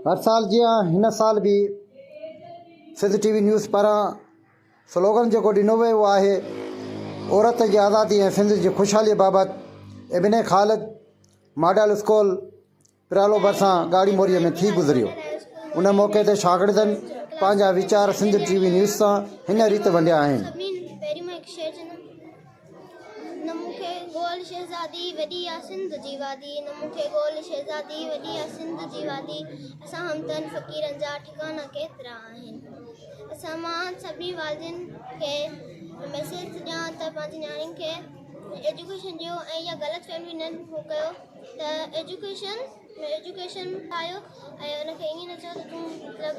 هر سال جيان هن سال به سنڌ ٽي وي نيوز پاران سلوگن جيڪو ڏنو ويو آهي عورت جي آزادي ۽ سنڌ جي خوشحالي بابت ابن خالد ماڊل اسڪول پرالو ڀرسان ڳاڙهي موري ۾ ٿي گذريو ان موقعي تي شاگردن پنهنجا ويچار سنڌ ٽي وي نيوز سان هن ريت ونڊيا آهن نه مون کي گول شهزادي وڏي آ سنڌ جي وادي نه مون کي گول شهزادي وڏي آ سنڌ جي وادي اسان همتن فقيرن جا ٺڪانا ڪيترا آهن اسان مان سڀني والدين کي ميسيج ٿي ڏيان ته پنهنجي نياڻين کي ايجوڪيشن ڏيو ۽ اها غلط فهمي نه هو ڪيو ته ايجوڪيشن ايجوڪيشن پايو ۽ ان کي ائين نه چئو ته تون مطلب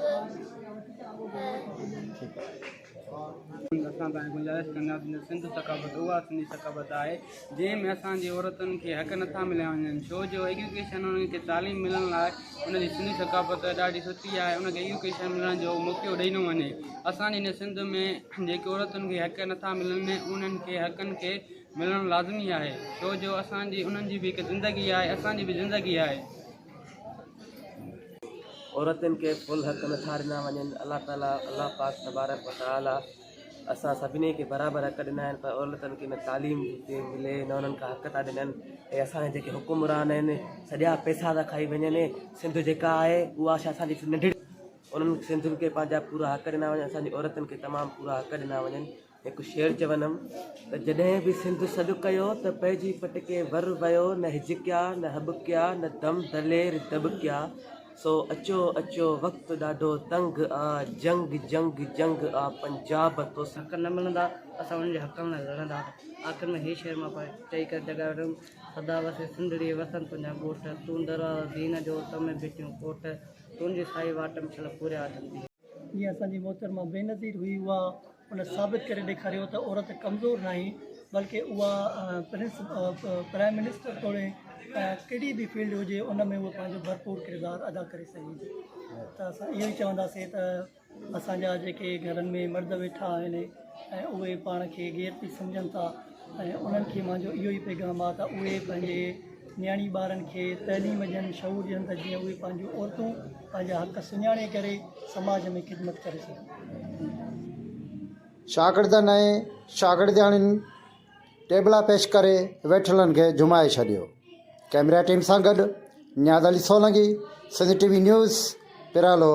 اسان کان گذارش ڪندا ته سنڌ ثقافت اها سنڌي ثقافت آهي جنهن ۾ اسان جي عورتن کي حق نه ٿا مليا وڃن ڇو جو ايجوڪيشن انهن کي تعليم ملڻ لاء ان جي سنڌي ثقافت ڏاڍي سٺي آهي ان کي ايجوڪيشن ملڻ جو موقعو ڏئي نو وڃي اسان جي سنڌ ۾ جيڪي عورتن کي حق نه ٿا ملن انهن کي حقن کي ملڻ لازمي آهي ڇو جو اسان جي انهن جي بي هڪ زندگي آهي اسان جي بي زندگي آهي عورتن کي فل حق نٿا ڏنا وڃن الله تعالٰي الله پاڪ تبارڪ و تعالٰي اسان سڀني کي برابر حق ڏنا آهن پر عورتن کي نه تعليم ٿي ملي نه انهن کي حق ٿا ڏنن ۽ اسان جي جيڪي حڪمران آهن سڄا پيسا ٿا کائي وڃن سنڌ جيڪا آهي اها شايد اسان جي ننڍڙي انهن سنڌين کي پنهنجا پورا حق ڏنا وڃن اسان جي عورتن کي تمام پورا حق ڏنا وڃن هڪ شعر چوندم ته جڏهن به سنڌ سڏ ڪيو ته پئجي پٽڪي ور ويو نه هجڪيا نه هٻڪيا نه دم دلير دٻڪيا سو اچو اچو وقت ڏاڍو تنگ آ جنگ جنگ جنگ آ پنجاب تو سان حق نه ملندا اسان انهن جي حقن لاء لڙندا آخر ۾ هي شعر مان پڙهي چئي ڪري جڳائي وٺندم سدا وسي سنڌڙي وسن تنهنجا ڳوٺ تون دروازو دين جو تون ۾ ڀٽيون ڪوٺ تنهنجي سائي واٽ ۾ ڇل پوريا اٿن ڏينهن جيئن اسان جي محترمه بينظير هئي اها ان ثابت ڪري ڏيکاريو ته عورت ڪمزور ناهي بلڪ اها پرنس پرائم منسٽر توڙي ڪهڙي به فيلڊ هجي ان ۾ اها پنهنجو ڀرپور ڪردار ادا ڪري سگهي ٿي ته اسان اهو ئي چونداسين ته اسان جا جيڪي گهرن ۾ مرد ويٺا آهن ۽ اهي پاڻ کي غيرتي سمجهن ٿا ۽ انهن کي منهنجو اهو ئي پيغام آهي ته اهي پنهنجي نياڻي ٻارن کي تعليم ڏين شعور ڏين ته جيئن اهي پنهنجون عورتون پنهنجا حق سڃاڻي ڪري سماج ۾ خدمت ڪري سگهن. شاگردن ۽ شاگردياڻين ٽيبلا پيش ڪري ويٺلن کي جهومائي ڇڏيو. ڪئميرا ٽيم سان گڏ Niaz Ali Solangi, Sindh T V news, پرالو.